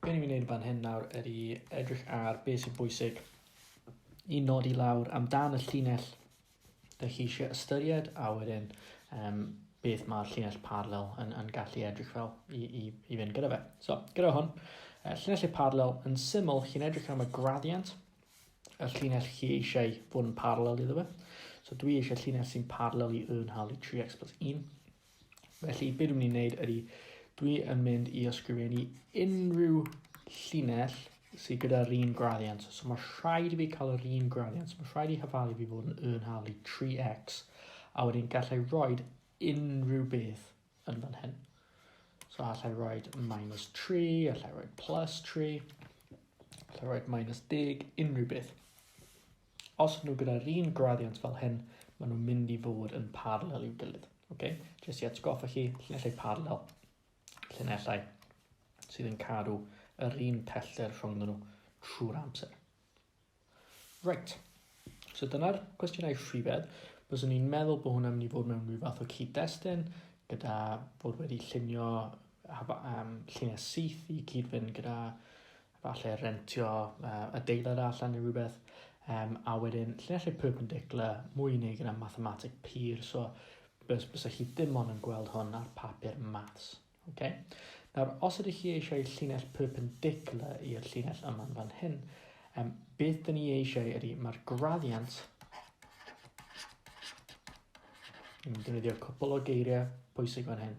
Be ni'n mynd i wneud fan hyn nawr ydy edrych ar beth sy'n bwysig i nodi lawr amdan y llinell da chi eisiau ystyried a wedyn um, beth mae'r llinell parallel yn, yn gallu edrych fel i, i, i fynd gyda fe. So, gyda hwn, uh, llinell parallel yn syml, chi'n edrych am y gradiant, y llinell chi eisiau fod yn parallel iddo fe. So dwi eisiau llinell sy'n parallel i yn hawlu 3x plus 1. Felly, be dwi'n mynd i wneud ydy, dwi yn mynd i ysgrifennu unrhyw llinell sydd gyda'r un graddiant. So mae rhaid i fi cael yr un graddiant. Mae rhaid i hyfalu fi fod yn y yn halu 3x. A wedyn gallai roed unrhyw beth yn fan hyn. So allai roed minus 3, allai roed plus 3, allai roed minus 10, unrhyw beth. Os nhw gyda'r un graddiant fel hyn, maen nhw'n mynd i fod yn parallel i'w gilydd. Okay? Jyst i atgoffa chi, llinellau parallel, llinellau sydd yn cadw yr un pellter rhwng nhw trwy'r amser. Right. So dyna'r cwestiynau rhywedd. Byddwn ni'n meddwl bod hwnna'n mynd i fod mewn rhyw fath o cyd-destun gyda bod wedi llunio um, lluniau syth i cyd-fynd gyda falle rentio uh, adeilad allan neu rhywbeth, um, a wedyn llinellau perpendicular mwy neu gyda mathematic pur, so bys, bys chi ddim ond yn gweld hwn ar papur maths. Okay? Nawr, os ydych chi eisiau llinell perpendicular i'r llinell yma'n fan hyn, um, beth dyn ni eisiau ydy, mae'r graddiant yn defnyddio cwpl o geiriau pwysig fan hyn.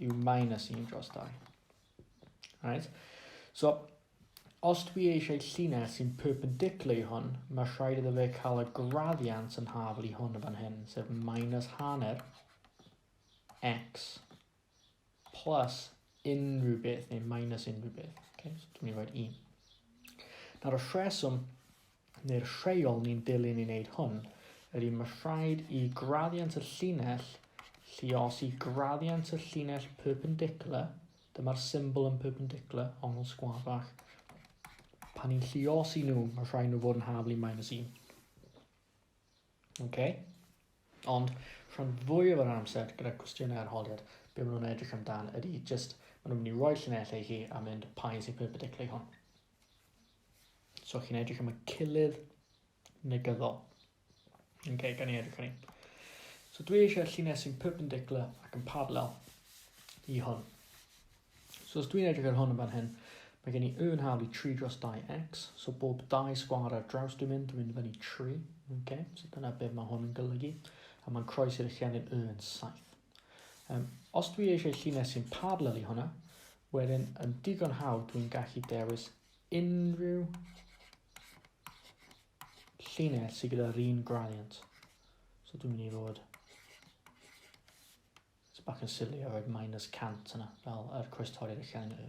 yw minus 1 dros 2. Right? So, os dwi eisiau llinell sy'n perpendicular i hwn, mae rhaid iddo fe cael y graddiant yn hafl i hwn y fan hyn, sef minus hanner x plus unrhyw beth, neu minus unrhyw beth. Okay, so dwi'n mynd i roed 1. Nawr y rheswm neu'r rheol ni'n dilyn i wneud hwn ydy mae rhaid i graddiant y llinell lluos i graddiant y llinell perpendicular, dyma'r symbol yn perpendicular, ongl sgwar fach. Pan ni'n lluos i nhw, mae rhaid nhw fod yn haflu minus 1. Okay? Ond rhan fwy o'r amser gyda cwestiynau arholiad, be maen nhw'n edrych amdan ydy just, maen nhw'n mynd i roi llinellau i chi a mynd pa un sy'n perpendicular i hwn. So chi'n edrych am y cilydd negyddol. Ok, gan i edrych hynny. So dwi eisiau llinell sy'n perpendicular ac yn parallel i hwn. So os dwi'n edrych ar hwn yn fan hyn, mae gen i y yn hawl i 3 dros 2x, so bob 2 sgwar ar draws dwi'n mynd, dwi'n mynd fyny 3, okay? so dyna beth mae hwn yn golygu, a mae'n croes i'r llenyn y yn 7. Um, os dwi eisiau llinell sy'n parallel i hwnna, wedyn yn digon hawdd dwi'n gallu dewis unrhyw llinell sydd gyda'r un gradient. So dwi'n mynd i fod bach yn silly a roed minus cant yna, fel yr coes torri'r allan yn y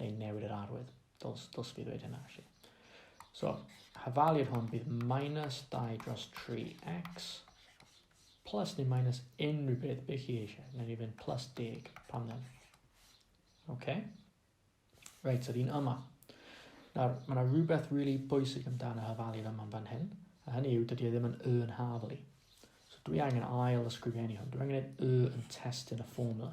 neu newid yr arwydd. Dyls, dyls fi ddweud hynna, felly. So, hafaliad hwn fydd minus 2 dros 3x plus neu minus unrhyw beth be chi eisiau. Neu ni fynd plus 10 pan ddim. OK? Reit, so fi'n yma. Nawr, mae yna rhywbeth really bwysig amdano hafaliad yma fan hyn, a hynny yw, dydy e ddim yn y yn hafali. So dwi angen ail ysgrifennu hwn. Dwi angen y yn testyn y fformula.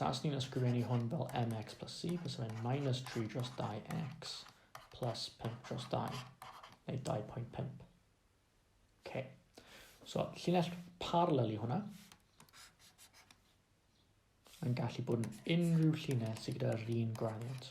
Taswn ni'n ysgrifennu hwn fel mx plus c, fes fe'n minus 3 dros 2x plus 5 dros 2, neu 2.5. OK. So, llinell parallel i hwnna. Mae'n gallu bod yn unrhyw llinell sydd gyda'r un gradiant.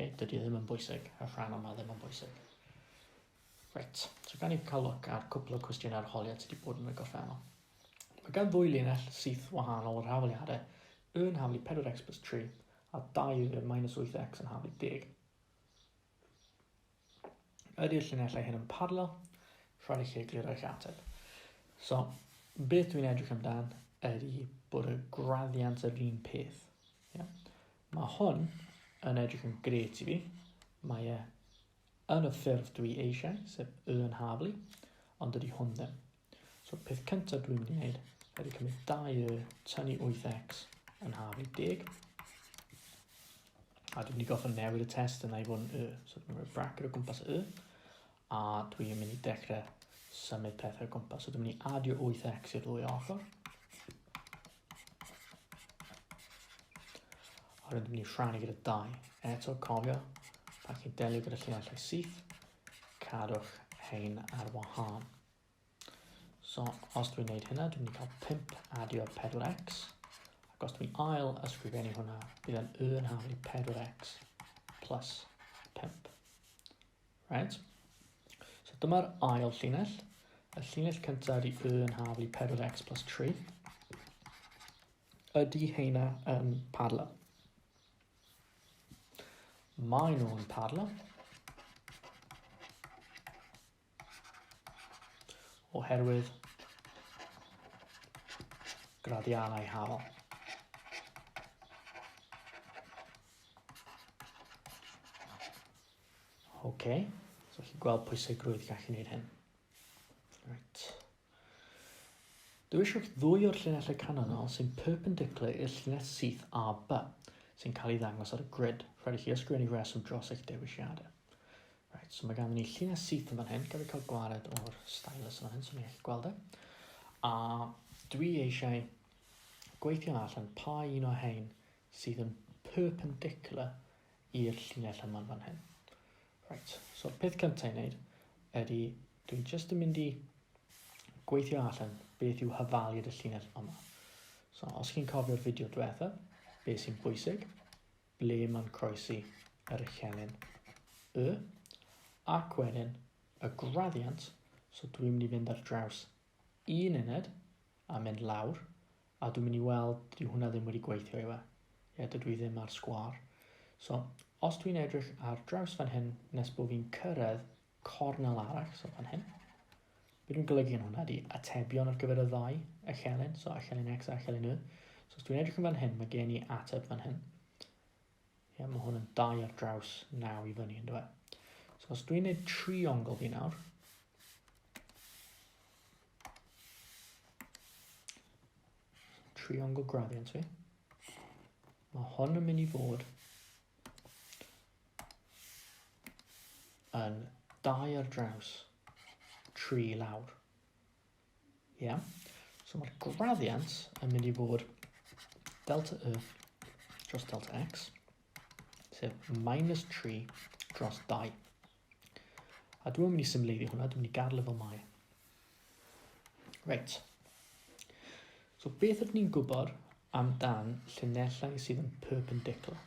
Ok, dydy e ddim yn bwysig, y rhan yma ddim yn bwysig. Reit, so gan i cael look ar cwpl o cwestiynau arholiad sydd wedi bod yn y gorffennol. Mae gan ddwy linell syth wahanol o'r hafaliadau, y yn haflu 4x plus 3 a 2 y minus 8x yn haflu 10. Ydy'r llinellau hyn yn parallel? Rhaid i chi egluro eich ateb. So, beth dwi'n edrych amdan ydy bod y graddiant yr un peth. Yeah. Mae hwn yn edrych yn gret i fi. Mae e yn y ffurf dwi eisiau, sef y yn haflu, ond dydy hwn ddim. So peth cyntaf dwi'n mynd i wneud ydy cymryd 2y tan i 8x yn haf i 10. A dwi'n mynd i goffa newid y test yna i fod yn y. So dwi'n mynd i bracket o gwmpas y. A dwi'n mynd i dechrau symud pethau o gwmpas. So dwi'n mynd i adio 8x i'r ddwy ochr. A dwi'n mynd i rhannu gyda 2. Eto cofio, pan chi'n delio gyda llinellau syth, cadwch hein ar wahân. So, os dwi'n gwneud hynna, dwi'n mynd i cael 5 adio 4x. Ac os dwi'n ail ysgrifennu hwnna, bydd yn y yn hawdd i 4x plus 5. Right? So dyma'r ail llinell. Y llinell cyntaf i y yn haflu 4x plus 3. Ydy heina yn um, parallel? Mae nhw'n parallel. oherwydd graddiannau hael. OK, so chi'n gweld pwysigrwydd gallu gwneud hyn. Right. Dewiswch ddwy o'r llinellau canlynol sy'n perpendicular i'r llinell syth AB sy'n cael ei ddangos ar y grid. Rhaid i chi ysgrifennu reswm dros eich dewisiadau. Right, so mae ganddyn ni llinell syth yn fan hyn, gyda cael gwared o'r stylus yn fan hyn, so ni'n gallu gweld e. A dwi eisiau gweithio allan pa un o hein sydd yn perpendicular i'r llinell yma'n fan hyn. Right, so'r peth cyntaf i wneud ydy, dwi'n just yn mynd i gweithio allan beth yw hyfaliad y llinell yma. So, os chi'n cofio'r fideo diwetha, beth sy'n bwysig, ble mae'n croesi yr echelin y, ac wedyn y graddiant, so dwi'n mynd i fynd ar draws Un uned, a mynd lawr, a dwi'n mynd i weld, dyw hwnna ddim wedi gweithio yw e. Ie, dydw i ddim ar sgwar. So, os dwi'n edrych ar draws fan hyn, nes bod fi'n cyrraedd cornel arall, so fan hyn, beth dwi'n golygu yn hwnna di atebion ar gyfer y ddau echelin, so echelin X a echelin Y. So os dwi'n edrych yn fan hyn, mae gen i ateb fan hyn. Ie, mae hwn yn dau ar draws naw i fyny, ynddo fe? So os dwi'n neud triongl fi nawr, triongl gradient fi, mae hon yn mynd i fod yn dau ar draws tri lawr. Ia. So mae'r graddiant yn mynd i fod delta y dros delta x, sef minus 3 dros 2. A dwi'n mynd i symleiddio hwnna, dwi'n mynd i gadw fel mae. Reit. So beth ydyn ni'n gwybod amdan llinellau sydd yn perpendicular?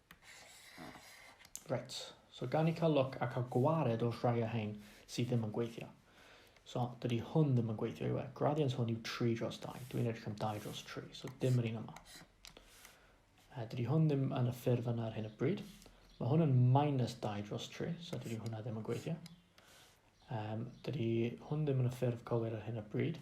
Reit, so gan i cael look a cael gwared o'r rhai o hein sydd ddim yn gweithio. So, dydy hwn ddim yn gweithio i we. Graddiant hwn yw 3 dros 2. Dwi'n edrych am 2 dros 3, so dim yr un yma. Uh, dydy hwn ddim yn y ffurf yna ar hyn o bryd. Mae hwn yn minus 2 dros 3, so dydy hwnna ddim yn gweithio. Um, dydy hwn ddim yn y ffurf cywir ar hyn o bryd.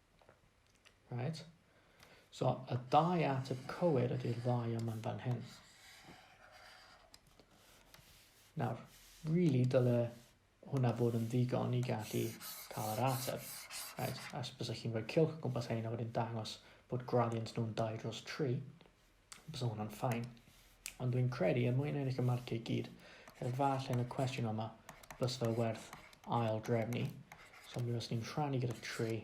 Right? So, y dau ateb cywir ydy'r ddau yma'n fan hyn. Nawr, really dyle hwnna bod yn ddigon i gallu cael yr ateb. Right? A bys chi'n rhoi cilch gwmpas hyn a wedyn dangos bod gradient nhw'n 2 dros 3. Bysa hwnna'n ffain. Ond dwi'n credu er mwyn ennill y marciau i gyd, efallai yn y cwestiwn yma, bys fe werth ail drefnu. So mi fyswn ni'n rhannu gyda 3.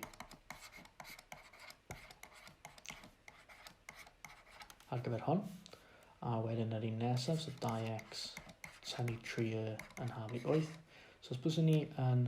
Ar gyfer hwn. A wedyn yr un nesaf, so 2x tynnu 3 yn haf i 8. So os byswn ni yn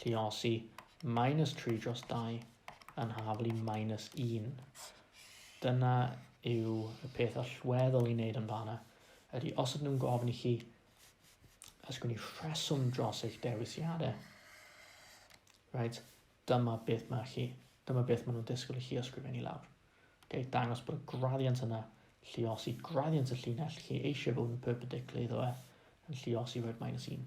Lluosi minus 3 dros 2 yn haflu minus 1. Dyna yw y peth allweddol i wneud yn fanna, ydy os ydyn nhw'n gofyn i chi ysgrifennu rheswm dros eich dewisiadau, right, dyma beth mae chi, dyma beth maen nhw'n disgwyl i chi ysgrifennu lawr. Okay, dangos bod y graddiant yna, lliosi graddiant y llinell chi eisiau bod yn perpendicular iddo fe, yn lliosi red minus 1.